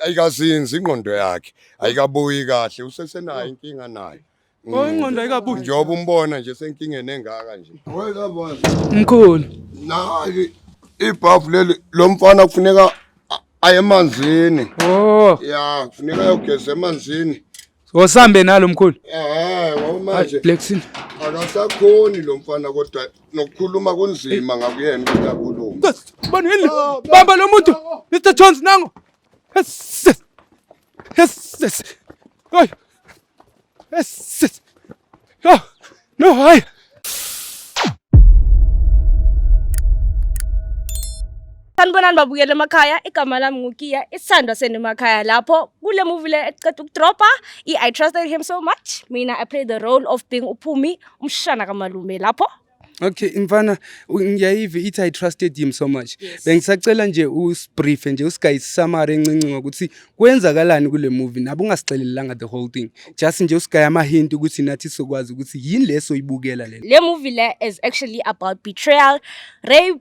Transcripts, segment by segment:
ayikazinzi ingqondo yakhe ayikabuyi kahle usesenayo inkinga nayo Oh ingqondo ayikabuyi. njengoba umbona nje senkingeni engaka nje Mkhulu. nayi ibhavu leli lo mfana kufuneka a- aye emanzini Oh. ya kufuneka ayogeza emanzini Ngosambe nalo mkhulu. Eh, ngomanje. Blexin. Akasakhoni lo mfana kodwa nokukhuluma kunzima ngakuyena ukuthi akhulume. Bani yini? Ah, Bamba lo muntu. Mr Jones nango. Yes. Yes. Yes. Yes. No, no, hayi. Sanibonani babukele emakhaya igama lami nguKiya isithandwa senu emakhaya lapho kule movie le eceda ukudropa i I trusted him so much mina I play the role of being uPhumi umshana kamalume lapho okay mfana ngiyayiva ithi i trusted him so much yes. bengisacela nje usibrief nje usigayi summary encinci ngokuthi kwenzakalani kule movie nabe ungasixelelanga the whole thing just nje usigayi ama hint ukuthi nathi sokwazi ukuthi yini leso ibukela le le movie le is actually about betrayal rape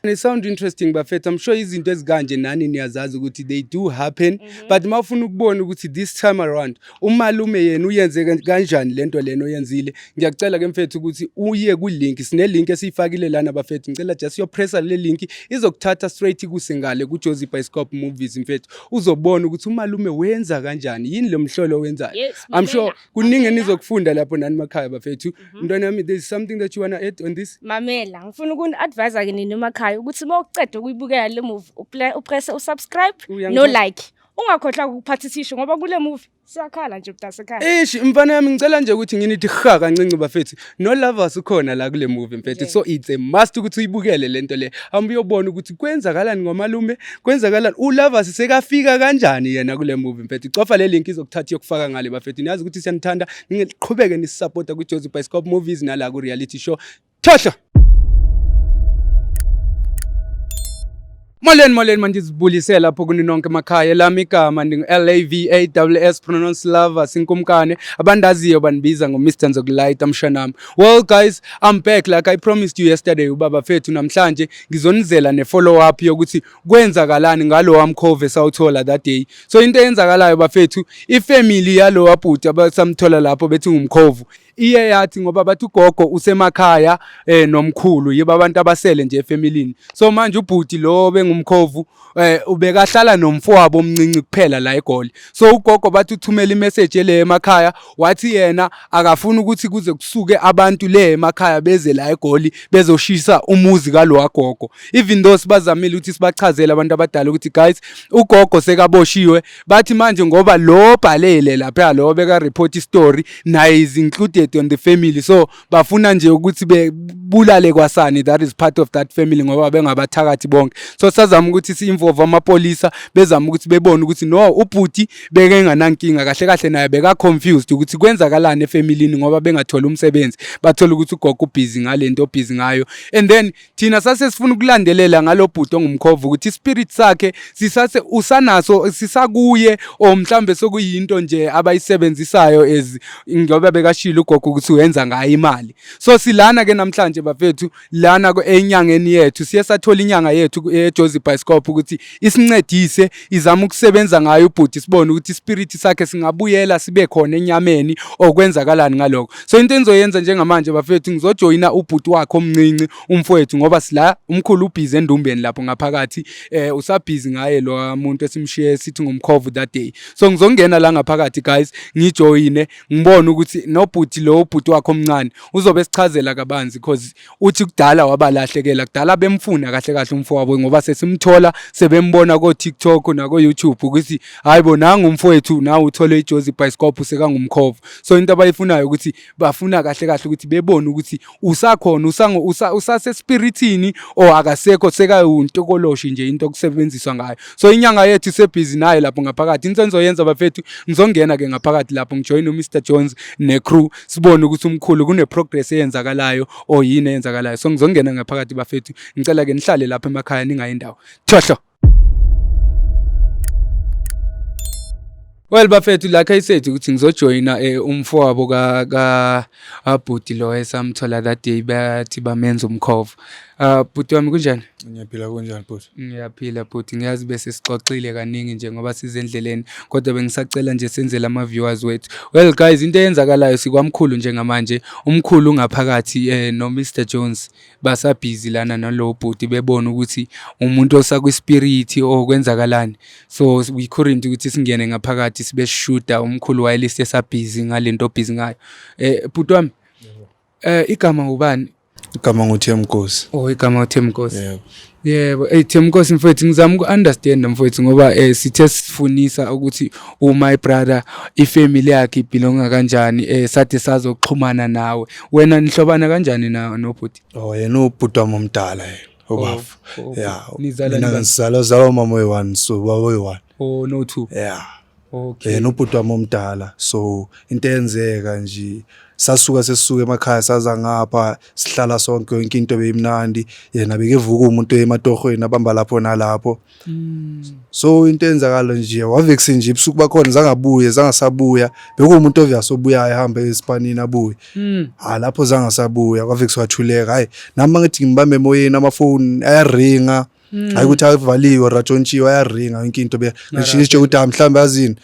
Christ. It sound interesting bafethu I'm sure izinto ezikanje nani niyazazi ukuthi they do happen mm -hmm. but mawufuna ukubona ukuthi this time around umalume yena uyenze kanjani lento leno yenzile ngiyacela ke mfethu ukuthi uye ku link sine link esiyifakile lana bafethu ngicela just yo press le link izokuthatha straight kusengale ku Jozi Bioscope Movies mfethu uzobona ukuthi umalume wenza kanjani yini lo mhlolo wenzayo yes, I'm sure kuningi enizokufunda lapho nani makhaya bafethu mhm. mntwana wami there is something that you wanna add on this mamela ngifuna ukuni-advise ke nini emakhaya ukuthi uma uceda ukuyibukela le movie upresse usubscribe no like ungakhohlwa ukuphatha ithishu ngoba kule movie siyakhala nje mntasekhaya eish mfana yami ngicela nje ukuthi nginithi ha kancinci bafethu no lovers ukhona la kule movie mfethu so it's a must ukuthi uyibukele lento le hamba uyobona ukuthi kwenzakalani ngomalume kwenzakalani u lovers sekafika kanjani yena kule movie mfethu cofa le link izokuthatha yokufaka ngale bafethu niyazi ukuthi siyanithanda ningiqhubeke nisupporta ku Jozi Bioscope Movies nala ku reality show thohlo Molweni molweni mandizibulise lapho kuni nonke emakhaya elami igama ndingu-LAVAWS pronounce lover sinkumkane abandaziyo bandibiza ngo-Mr Nzokulayita mshanami well guys I'm back like I promised you yesterday ubaba fethu namhlanje ngizonizela ne-follow up yokuthi kwenzakalani ngalo wamkhove sawuthola that day so into eyenzakalayo bafethu ifamily yalo wabhuti abasamthola lapho bethi ngumkhovu iye yathi ngoba bathi ugogo usemakhaya eh nomkhulu yiba abantu abasele nje efamilini so manje ubhuti lo bengumkhovu eh ubekahlala nomfowabo omncinci kuphela la egoli so ugogo bathi uthumela imessage le emakhaya wathi yena akafuni ukuthi kuze kusuke abantu le emakhaya beze la egoli bezoshisa umuzi kalowa gogo even though sibazamile ukuthi sibachazele abantu abadala ukuthi guys ugogo sekaboshiwe bathi manje ngoba lo bhalele lapha lo beka report story naye is included on the family so bafuna nje ukuthi bebulale kwasani that is part of that family ngoba bengabathakathi bonke so sazama ukuthi si involve amapolisa bezama ukuthi bebone ukuthi no ubhuti beke nganankinga kahle kahle naye beka confused ukuthi kwenzakalani efamilini ngoba bengathola umsebenzi bathola ukuthi ugogo ubhizi ngalento obhizi ngayo and then thina sase sifuna ukulandelela ngalobhuti ongumkhova ukuthi ispirit sakhe sisase usanaso sisakuye or mhlambe sokuyinto nje abayisebenzisayo as ngoba bekashilo ugogo ukuthi uyenza ngayo imali so silana ke namhlanje bafethu lana enyangeni yethu siye sathola inyanga yethu eJozi Bioscope ukuthi isincedise izama ukusebenza ngayo ubhuti sibone ukuthi ispirit sakhe singabuyela sibe khona enyameni okwenzakalani ngaloko so into engizoyenza njengamanje bafethu ngizojoyina ubhuti wakhe omncinci umfowethu ngoba sila umkhulu ubhizi endumbeni lapho ngaphakathi eh usabhizi ngaye lo muntu esimshiye sithi ngumkhovu that day so ngizongena la ngaphakathi guys ngijoyine ngibone ukuthi nobhuti lo ubhuti wakhe omncane uzobe sichazela kabanzi because uthi kudala wabalahlekela kudala bemfuna kahle kahle umfowabo ngoba sesimthola sebembona ko TikTok nako YouTube ukuthi hayibo nangu umfowethu nawe uthole ijozi bicycle sekangumkhovu so into abayifunayo ukuthi bafuna kahle kahle ukuthi bebone ukuthi usakhona usango usase spiritini or akasekho sekayuntokoloshe nje into okusebenziswa ngayo so inyanga yethu isebhizi naye lapho ngaphakathi into enzoyenza bafethu ngizongena ke ngaphakathi lapho ngijoyine uMr Jones ne crew sibone ukuthi umkhulu kune progress eyenzakalayo or yini eyenzakalayo so ngizongena ngaphakathi bafethu ngicela ke nihlale lapha emakhaya ningayi ndawo thohlo Well bafethu la case sethu ukuthi ngizojoyina eh, umfowabo ka ka abhuti lo esamthola that day bathi bamenza umkhova. Uh, bhuti wami kunjani? Ngiyaphila kunjani bhuti? Ngiyaphila bhuti, ngiyazi bese sixoxile kaningi nje ngoba size endleleni kodwa bengisacela nje senzele ama-viewers wethu. Well guys, into eyenzakalayo sikwamkhulu njengamanje, umkhulu ungaphakathi eh, no-Mr Jones basabhizi lana nalowo bhuti bebona ukuthi umuntu osakwispirit or kwenzakalani. So we couldn't ukuthi singene ngaphakathi sibe sishuda umkhulu wayelise esabhizi ngale nto obhizi ngayo. Eh bhuti wami, Eh igama ngubani? Igama nguThemkosi. Oh igama uThemkosi. Yebo. Yebo, hey Themkosi mfowethu ngizama uku-understand mfowethu ngoba eh sithe sifunisa ukuthi u my brother ifamily yakhe ibelonga kanjani eh sathe sazoxhumana nawe. Wena nihlobana kanjani na nobhuti? Oh yena ubhuti wami omdala yena. Obafo. Oh, oh, oh. Yeah. Nizalwa Mina nibani? ngizalwa zalwa umama oyi-one so baba oyi-one. Oh no two. Yeah. Okay. Eh nobhuti wami omdala. So into eyenzeka nje sasuka sesuke emakhaya saza ngapha sihlala sonke yonke into beyimnandi yena bekevuka umuntu ematohweni abamba lapho nalapho mm. so into enzakalo nje wavexe nje ibusuku bakhona zangabuye zangasabuya bekuwumuntu obvious obuyayo ehamba esipanini abuye mm. ha lapho zangasabuya wavexe wathuleka hayi nami ngithi ngibambe emoyeni amafoni ayaringa Hmm. hayi ukuthi avaliwe or atshontshiwe ayaringa yonke into beshinitshe ukuthi ah mhlawumbe azini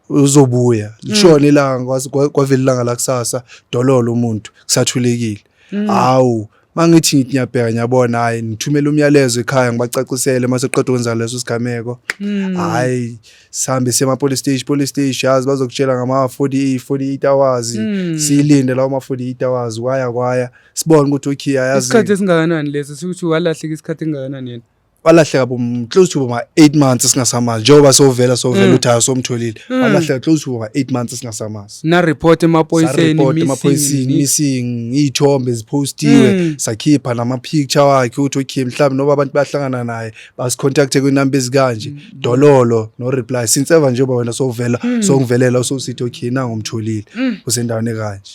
uzobuya hmm. lishona ilanga kwavela ilanga lakusasa dololo umuntu kusathulekile hmm. hawu mangithi ngithi ngiyabheka ngiyabona hayi ngithumela umyalezo ekhaya ngibacacisele mase qeda ukwenza leso sigameko hayi sihambe sema police station police station yazi bazokutshela ngama 48 48 hours silinde lawo ma 48 hours kwaya kwaya sibone ukuthi ukhiya yazi isikhathi esingakanani lesi sikuthi walahleka isikhathi engakanani yena walahleka bo close to ma 8 months singasamazi njengoba sovela sovela mm. uthi asomtholile mm. walahleka close to ma 8 months singasamazi na report emaphoyiseni report emaphoyiseni missing izithombe zipostiwe mm. sakhipha nama picture wakhe uthi okay mhlawumbe noba abantu bahlangana naye bas contact kwi number ezikanje dololo no reply since ever njengoba wena sovela songivelela usokusithi okay na ngomtholile usendaweni kanje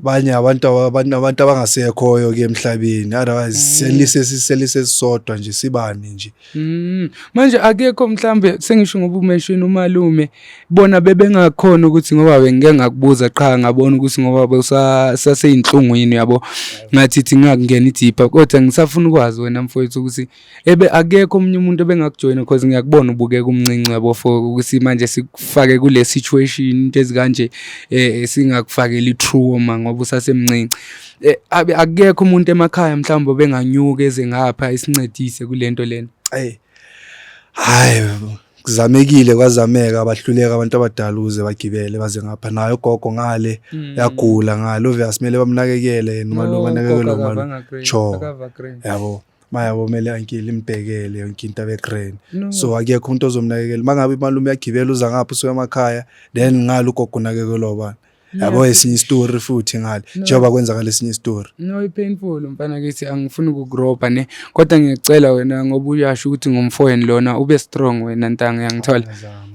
abanye abantu abantu abantu abangasekhoyo ke emhlabeni otherwise mm. selise siselise sisodwa nje sibani nje mm. manje akekho mhlambe sengisho ngoba umention umalume bona bebengakhona ukuthi ngoba bengike ngakubuza qha ngabona ukuthi ngoba besaseyinhlungwini yabo ngathi thi ngakungena idipha kodwa ngisafuna ukwazi wena mfowethu ukuthi ebe akekho omunye umuntu ebengakujoyina because ngiyakubona ubukeka umncinci yabo for ukuthi manje sikufake kule situation into ezikanje eh singakufakeli true uma ngoba usasemncinci eh, akekho umuntu emakhaya mhlawumbe benganyuka eze ngapha isincedise kulento lena hey hayi kuzamekile kwazameka bahluleka abantu abadala ukuze bagibele baze ngapha nayo gogo ngale mm. yagula ngale obvious kumele bamnakekele noma lo banakekele noma cho yabo maya komele ankile imbhekele yonke into abegrand no. so akekho umuntu ozomnakekela mangabe imalume yagibela uza ngapha usuka emakhaya then ngalo ugogo unakekelwa ubani yabo esinye isitori futhi ngale njengoba kwenzakala esinye isitori no ipainful mfana kithi angifuni ukugropa ne kodwa ngiyacela wena ngoba uyasho ukuthi ngumfoyeni lona ube strong wena ntanga yangithola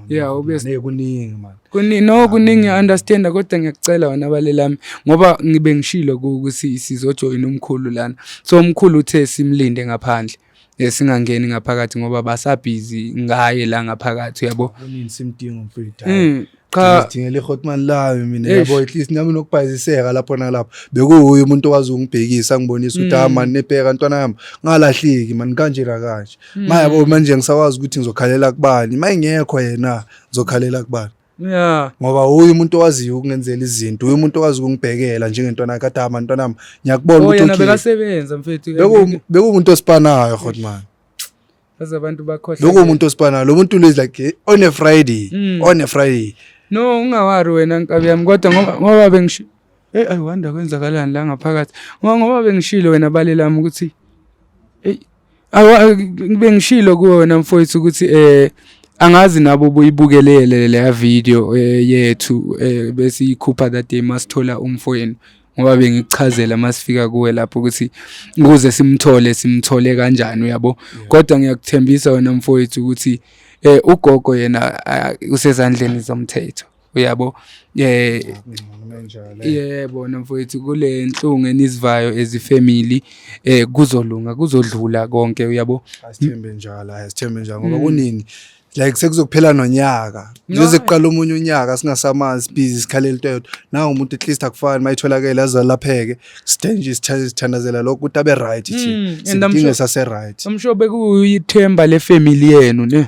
yeah ube kuningi manje Kuni no kuningi understand kodwa ngiyakucela wena bale lami ngoba ngibe ngishilo ukuthi sizojoyina umkhulu lana. So umkhulu uthe simlinde ngaphandle. Eh, singangeni ngaphakathi ngoba basabhizi ngaye la ngaphakathi uyabo. Kunini simdinga umfethu. Mm, cha sidingele ihotman layo mina yabo at least nami nokubhayiziseka lapho nalapho bekuwuye umuntu owazi ungibhekisa ngibonisa ukuthi ah mm. man nebheka ntwana yami ngalahleki man kanje la kanje mm. mayabo manje ngisakwazi ukuthi ngizokhalela kubani mayingekho yena ngizokhalela kubani yeah ngoba uyi umuntu owaziyo ukungenzela izinto uyi umuntu owazi ukungibhekela njengentwana kadama ntwana nami ngiyakubona oh, ukuthi yena bekasebenza mfethu beku beku umuntu osipanayo hot man baze abantu bakhohle lokho umuntu osipanayo lo muntu is like eh, on a friday mm. on a friday no ungawari wena nkabi yami kodwa ngoba ngoba bengisho hey i wonder kwenzakalani la ngaphakathi ngoba ngoba bengishilo wena balelami ukuthi hey bengishilo kuwe wena mfowethu ukuthi eh angazi nabo buyibukelele leya video eh, yethu eh, bese ikhupha that day masithola umfowenu ngoba bengikuchazela masifika kuwe lapho ukuthi ukuze simthole simthole kanjani uyabo kodwa ngiyakuthembisa wena mfowethu ukuthi eh ugogo yena usezandleni zomthetho uyabo eh yebo mfowethu kule nhlungu enizivayo as ifamily eh kuzolunga kuzodlula konke uyabo asithembe njalo asithembe njalo ngoba mm. kunini like sekuzokuphela nonyaka njengoze kuqala omunye unyaka singasamazi busy sikhalela into yodwa nawo umuntu at least akufani mayitholakele azalapheke sithenje sithandazela lokho ukuthi abe right thi hmm, sidinge sase right I'm sure bekuyithemba le family yenu ne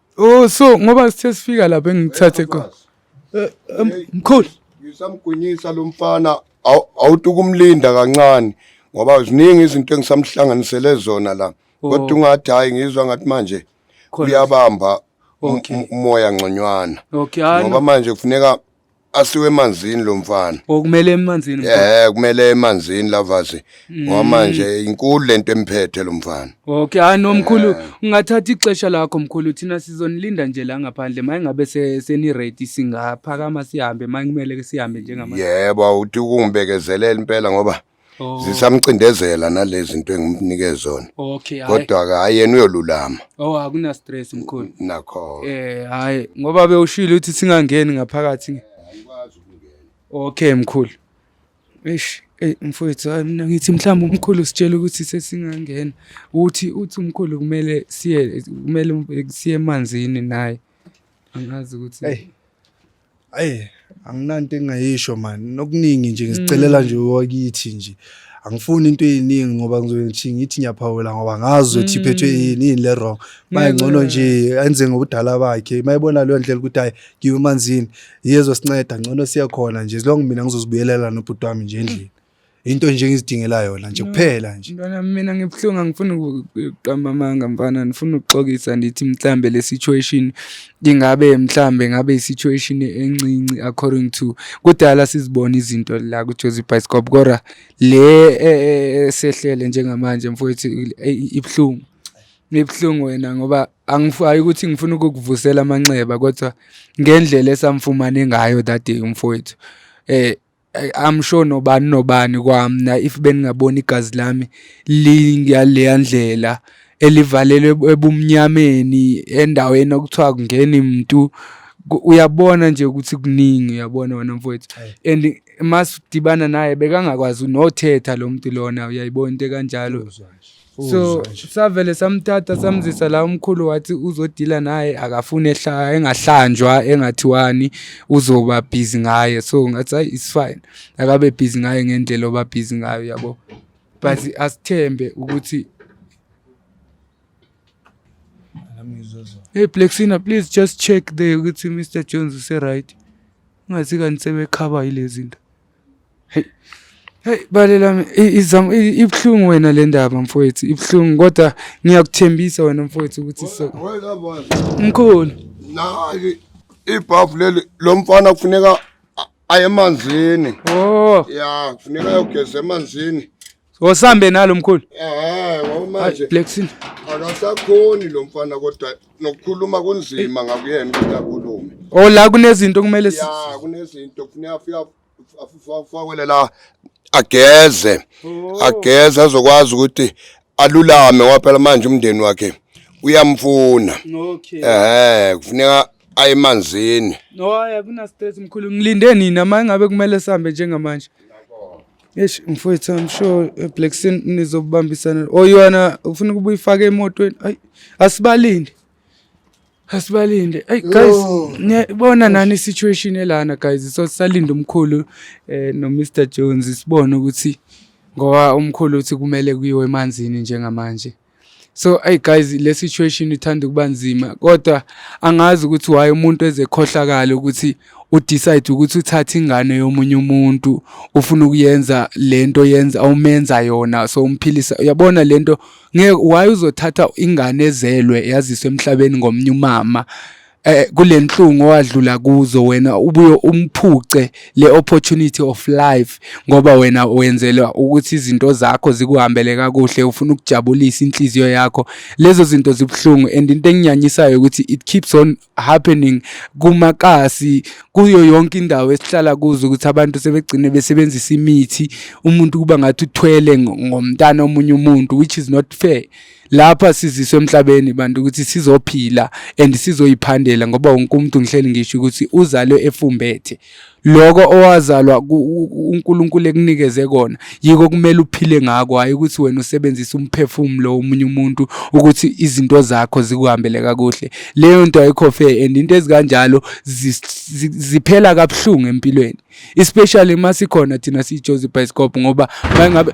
Oh so ngoba sithe sifika lapha engithathe khona. Eh, em, Mkhulu. ngisamgwinyisa lo mfana aw- awuthi ukumlinda kancane ngoba ziningi izinto engisamhlanganisele zona la kodwa ungathi hhayi ngizwa ngathi manje Khona. uyabamba um- Okay. um- umoya ngconywana Okay, hayi ngoba no. manje kufuneka asiwe emanzini lo mfana okumele emanzini eh kumele emanzini lavazi ngoba manje inkulu lento emphethe lo mfana okay hayi nomkhulu ungathatha ixesha lakho mkhulu thina sizonilinda nje la ngaphandle maye ngabe se- seni ready singaphakama sihambe maye kumele ke sihambe njengamanje yebo uthi ukungibekezelela impela ngoba Oh. zisamcindezela nalezi zinto engimnike zona okay hayi kodwa ke hayi yena uyolulama oh akuna stress mkhulu nakho eh hayi ngoba bewushilo ukuthi singangeni ngaphakathi nge- ayikwazi ukungena okay mkhulu eish eh mfowethu hayi mina ngithi mhlawumbe umkhulu sitshela ukuthi sesingangena uthi uthi umkhulu kumele siye kumele siye emanzini naye angazi ukuthi Hey. Ayi anginanto engayisho man nokuningi nje ngizicelela nje wakithi nje angifuni into eyiningi ngoba ngizothi ngithi ngiyaphawula ngoba ngazi ukuthi iphethwe yini yini le wrong maye ngcono nje enze ngobudala bakhe mayibona leyo ndlela ukuthi hayi ngiwe emanzini yezosinceda ngcono siyakhona nje as long mina ngizozibuyelela nobhuti wami nje endlini into nje engizidingela yona nje kuphela nje mntwana mina ngibuhlungu angifuni ukuqamba amanga mfana ngifuna ukuxokisa ndithi mhlambe le situation ingabe mhlambe ngabe i-situation encinci according to kudala sizibona izinto la kujozi bioscope kodwa le e, e, e, sehlele njengamanje mfowethu ibuhlungu ibuhlungu wena ngoba angifayi ukuthi ngifuna ukukuvusela amanxeba kodwa ngendlela esamfumane ngayo that day umfowethu eh I'm sure nobani nobani kwamna if beningabona igazi lami lingaleya ndlela elivalelwe ebumnyameni endaweni okuthiwa kungeni mntu uyabona nje ukuthi kuningi uyabona wena mfowethu and uma sidibana naye bekangakwazi nothetha lo muntu lona uyayibona into ekanjalo so savele samthatha samzisa la umkhulu wathi uzodila naye akafune ehlaya engahlanjwa engathiwani uzoba busy ngaye so ngathi hayi it's fine akabe busy ngaye ngendlela oba busy ngayo yabo but asithembe ukuthi Hey Plexina please just check there ukuthi Mr Jones use right. Ungathi kanti sebekhaba yilezinto. Hey. Hey bale lami izam ibuhlungu wena le ndaba mfowethu ibuhlungu kodwa ngiyakuthembisa wena mfowethu ukuthi so Mkhulu Naki ibhavu leli lo mfana kufuneka aye emanzini Oh yeah kufuneka ayogeza emanzini Ngosambe nalo mkhulu. Eh, ngomanje. Blexin. Akasakhoni lo mfana kodwa nokukhuluma kunzima ngakuyena ukuthi akhulume. Oh la kunezinto kumele si. Ya, kunezinto kufuneka afika afakwele la ageze. Oh. Ageze azokwazi ukuthi alulame waphela manje umndeni wakhe uyamfuna. Okay. Eh, kufuneka ayemanzini. No, ayakuna stress mkhulu. Ngilinde nini ama ngabe kumele sambe njengamanje. Eish mfowethu I'm sure eh, Black Sin nizobambisana. Oyona oh, ufuna ukuba uyifake emotweni. Ay asibalinde. Asibalinde. Ay guys niyabona nani situation elana guys so sisalinde umkhulu eh no Mr Jones sibone ukuthi ngoba umkhulu uthi kumele kuyiwe emanzini njengamanje. so hey guys le situation ithanda ukuba nzima kodwa angazi ukuthi why umuntu ezekhohlakala ukuthi udecide ukuthi uthathe ingane yomunye umuntu ufuna ukuyenza lento yenza awumenza yona so umphilisa uyabona lento ngeke why uzothatha ingane ezelwe yaziswe emhlabeni ngomnye umama eh kulenhlungu owadlula kuzo wena ubuye umphuce le opportunity of life ngoba wena wenzelwa ukuthi izinto zakho zikuhambele kakuhle ufuna ukujabulisa inhliziyo yakho lezo zinto zibuhlungu and into enginyanyisayo ukuthi it keeps on happening kumakasi kuyo yonke indawo esihlala kuzo ukuthi abantu sebegcine besebenzisa imithi umuntu kuba ngathi uthwele ngomntana omunye umuntu which is not fair lapha siziswe emhlabeni bantu ukuthi sizophila and sizoyiphandela ngoba wonke umuntu ngihleli ngisho ukuthi uzalwe efumbethe lokho owazalwa uNkulunkulu ekunikeze kona yiko kumele uphile ngako hayi ukuthi wena usebenzisa umphefumulo womunye umuntu ukuthi izinto zakho zikuhambele kakuhle leyo nto ayikho fair and into ezikanjalo ziphela kabuhlungu empilweni especially masikhona thina siyiJozi Bioscope ngoba mangabe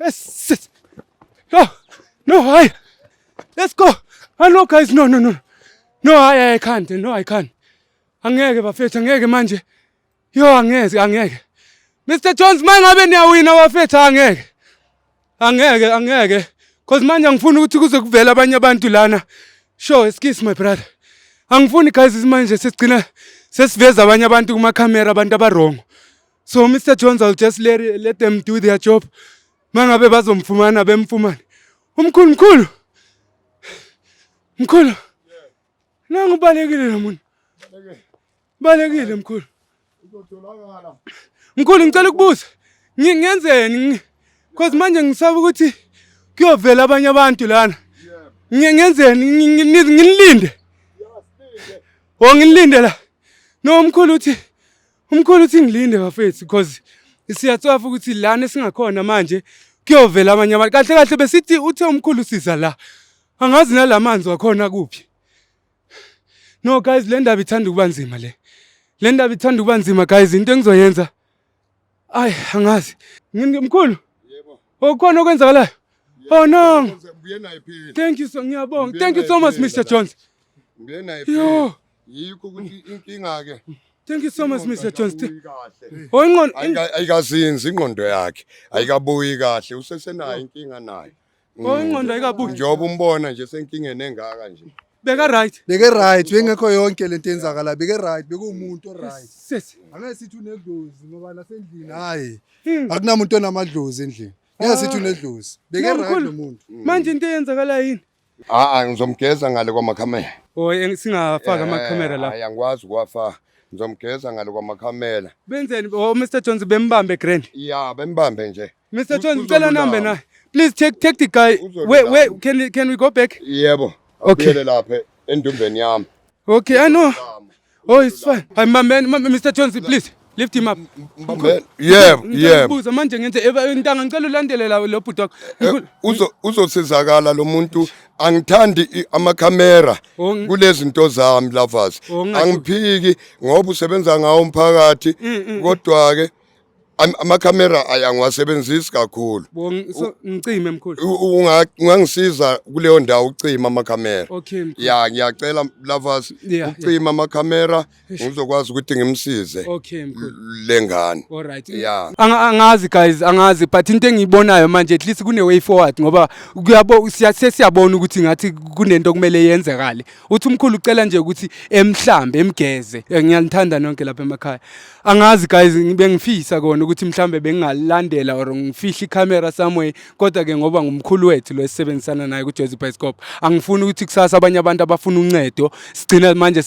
Yes, yes. No, no, higher. Let's go. I know guys, no, no, no. No, I, I can't. No, I can't. Angeke bafethu, angeke manje. Yo, angeke, angeke. Mr. Jones, manje ngabe niyawina bafethu, angeke. Angeke, angeke. Cause manje angifuni ukuthi kuze kuvele abanye abantu lana. Sure, excuse my brother. Angifuni guys manje sesigcina sesiveza abanye abantu kuma camera abantu abarongo. so mr jones ill just let, let them do their job mangabe bazomfumana bemfumane umkhulu mkhulu mkhulu nangu ubalekile lo muntu balekile mkhulu mkhulu ngicela ukubuza ngenzeni cause manje ngisaba ukuthi kuyovela abanye abantu lana ngenzeni nginilinde o nginilinde la no mkhulu uthi Umkhulu uthi ngilinde bafethu because siyatsofa ukuthi lana singakhona manje kuyovela abanye abantu kahle kahle besithi uthe umkhulu siza la angazi nalamanzi wakhona kuphi no guys le ndaba ithanda ukuba nzima le le ndaba ithanda ukuba nzima guys into engizoyenza ayi angazi mkhulu okukhona okwenzakalayo oh no thank you so ngiyabonga thank you so much mr jones yo yikho ukuthi inkinga ke Thank you so much Mr Jones. Oh inqondo ayikazinzi inqondo yakhe ayikabuyi kahle usesenayo oh. inkinga nayo. Oh mm. inqondo ayikabuyi. Njengoba umbona nje senkingeni engaka nje. Beka right. Beke right bengekho yonke lento enzakala beke right bekuwumuntu o right. Sisi. Angeke sithi unedlozi ngoba nasendlini hayi. Hmm. Akunamuntu onamadlozi endlini. Ngeke sithi ah. unedlozi. Beke right lo muntu. Manje into eyenzakala yini? Ah, ah ngizomgeza ngale kwamakhamera. Oh, singafaka eh, amakhamera la. Hayi angikwazi ukuwafaka. Ngizomgeza ngale kwamakhamera. Benzeni? Oh, Mr Jones bembambe grand. Yeah, bembambe nje. Mr Jones ngicela number naye. Please take take the guy. Wait, wait, can can we go back? Yebo. Okay. Lapha endumbeni yami. Okay, I know. Oh, it's fine. Hi, my man, Mr. Johnson, please. Lift him up. Yeah, yeah. Ngibuza manje ngenze intanga ngicela ulandelela lo bhuti wakho. Eh, uzo uzosizakala lo muntu angithandi ama camera oh, kulezi zinto zami lovers. Oh, Angiphiki ngoba usebenza ngawo umphakathi mm, mm, mm. kodwa ke Am- amakhamera ay- angiwasebenzisi kakhulu Bo ng- so ngicime mkhulu. U- u- unga- ungangisiza kuleyo ndawo ucima amakhamera Okay mkhulu. ya ngiyacela lovers Yeah, ucima amakhamera ngizokwazi ukuthi ngimsize Okay mkhulu. le ngane All right. ya Anga- angazi guys angazi but into engiyibonayo manje at least kune way forward ngoba kuyabo siya- sesiyabona ukuthi ngathi kunento kumele yenzekale uthi umkhulu ucela nje ukuthi emhlambe emgeze Eh, ngiyanithanda nonke lapha emakhaya angazi guys bengifisa kona ukuthi mhlambe bengingalandela or ngifihle ikhamera somewhere kodwa ke ngoba ngumkhulu wethu lo esisebenzisana naye kuJozi Bioscope angifuni ukuthi kusasa abanye abantu abafuna uncedo sigcina manje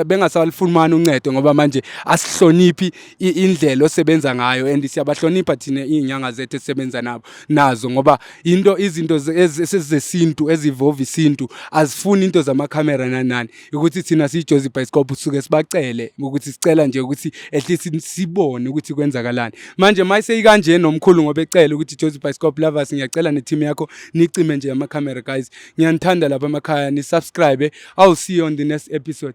bengasalifumani uncedo ngoba manje asihloniphi indlela osebenza ngayo and siyabahlonipha thina izinyanga zethu esisebenza nabo nazo ngoba into izinto esezesintu ezivova isintu azifuni into zamakhamera nanani ukuthi thina siyijozi ibhayisikobho suke sibacele ukuthi sicela nje ukuthi at least sibone ukuthi kwenzakalani manje uma iseyikanje nomkhulu ngoba ecele ukuthi jozi ibhayisikobho lovers ngiyacela ne-team yakho nicime nje amakhamera guys ngiyanithanda lapha emakhaya nisubscribe i'll see you on the next episode